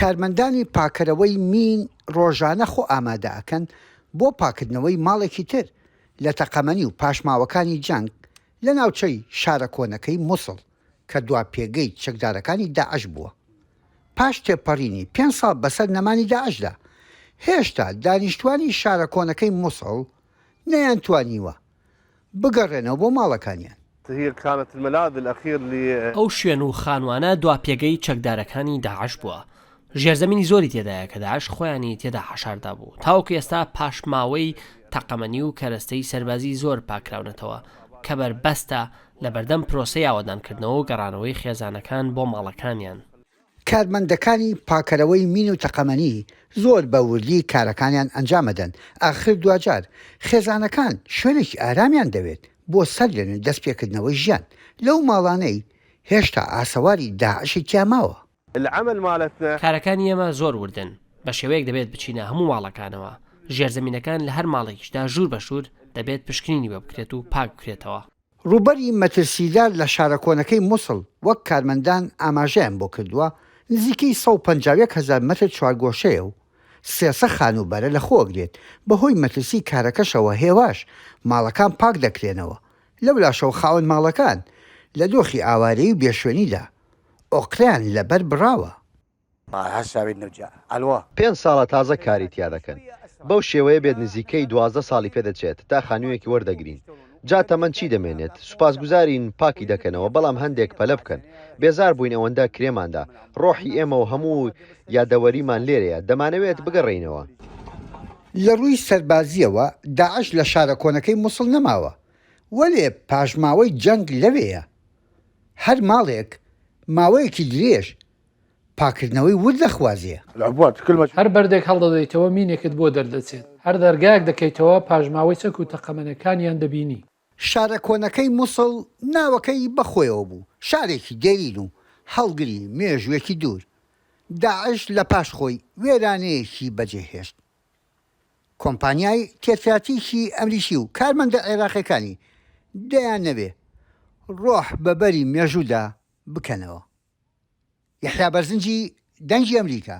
کارمەندانی پاکەرەوەی مین ڕۆژانە خۆ ئامادە ئەکەن بۆ پاکردنەوەی ماڵێکی تر لە تەقەمەنی و پاشماوەکانی جەنگ لە ناوچەی شارە کۆنەکەی موسڵ کە دوا پێگەی چەکدارەکانی داعش بووە. پاش تێپەڕینی پێنج ساڵ بەسەر نەمانی داعشدا، هێشتا دانیشتوانی شارە کۆنەکەی موسڵ، نەیانتوانیوە بگەڕێنەوە بۆ ماڵەکانیان. هی کانت الملاذ الاخیر لی. ئەو شوێن و خانوانە دوا پێگەی چەکدارەکانی داعش بووە، ژێرزەمینی زۆری تێدایە کە داعش خۆیانی تێدا حەشاردابوو، تاوەکو ئێستا پاشماوەی تەقەمەنی و کەرەستەی سەربازی زۆر پاککراونەتەوە کە بەربەستە لەبەردەم پرۆسەی ئاوەدانکردنەوە و گەڕانەوەی خێزانەکان بۆ ماڵەکانیان. کارمەندەکانی پاکەرەوەی مین و تەقەمەنی زۆر بە وردی کارەکانیان ئەنجام ئەدەن، ئاخر دواجار خێزانەکان شوێنێکی ئارامیان دەوێت بۆ سەرلێن و دەستپێکردنەوەی ژیان لەو ماڵانەی هێشتا ئاسەواری داعشی تیا ماوە. العمل مالتنا. کارەکانی ئێمە زۆر وردن، بە شێوەیەک دەبێت بچینە هەموو ماڵەکانەوە، ژێرزەمینەکان لە هەر ماڵێکیشدا ژوور بە ژوور دەبێت پشکنینی بۆ بکرێت و پاک بکرێتەوە. ڕووبەری مەترسیدار لە شارە کۆنەکەی موسڵ وەک کارمەندان ئاماژەیان بۆ کردووە، نزیکەی سەد و پەنجا و یەک هەزار مەتر چوارگۆشەیە و سێ سە خانووبەرە لەخۆگرێت، بەهۆی مەترسی کارەکەشەوە هێواش ماڵەکان پاک دەکرێنەوە، لەولاشەوە خاوەن ماڵەکان لە دۆخی ئاوارەیی و بێشوێنیدا ئۆقرەیان لەبەر بڕاوە. پێنج ساڵە تازە کاری تیا دەکەن بەو شێوەیە بێت نزیکەی دوازدە ساڵی پێ دەچێت تا خانویەکی وەردەگرین جا تەمەن چی دەمێنێت سوپاسگوزارین پاکی دەکەنەوە بەڵام هەندێک پەلە بکەن بێزار بووین ئەوەندە کرێمان دا ڕۆحی ئێمە و هەموو یادەوەریمان لێرەیە دەمانەوێت بگەڕێینەوە. لە ڕووی سەربازییەوە داعش لە شارە کۆنەکەی موسڵ نەماوە وەلێ پاشماوەی جەنگ لەوێیە هەر ماڵێک ماوەیەکی درێژ پاککردنەوەی ورد دەخوازێ. هەر بەردێک هەڵدەدەیتەوە مینێکت بۆ دەردەچێت، هەر دەرگایەک دەکەیتەوە پاژماوەی چەک و تەقەمەنیەکانیان دەبینی. شارە کۆنەکەی موسڵ ناوەکەی بە خۆیەوە بوو، شارێکی دێرین و هەڵگری مێژووێکی دوور. داعش لە پاش خۆی وێرانەیەکی بەجێ هێشت. کۆمپانیای تێکراتیکی ئەمریکی و کارمەندە عێراقیەکانی دەیانەوێ ڕۆح بە بەری مێژوودا بکەنەوە. یەحیا بەرزنجی دەنگی ئەمریکا.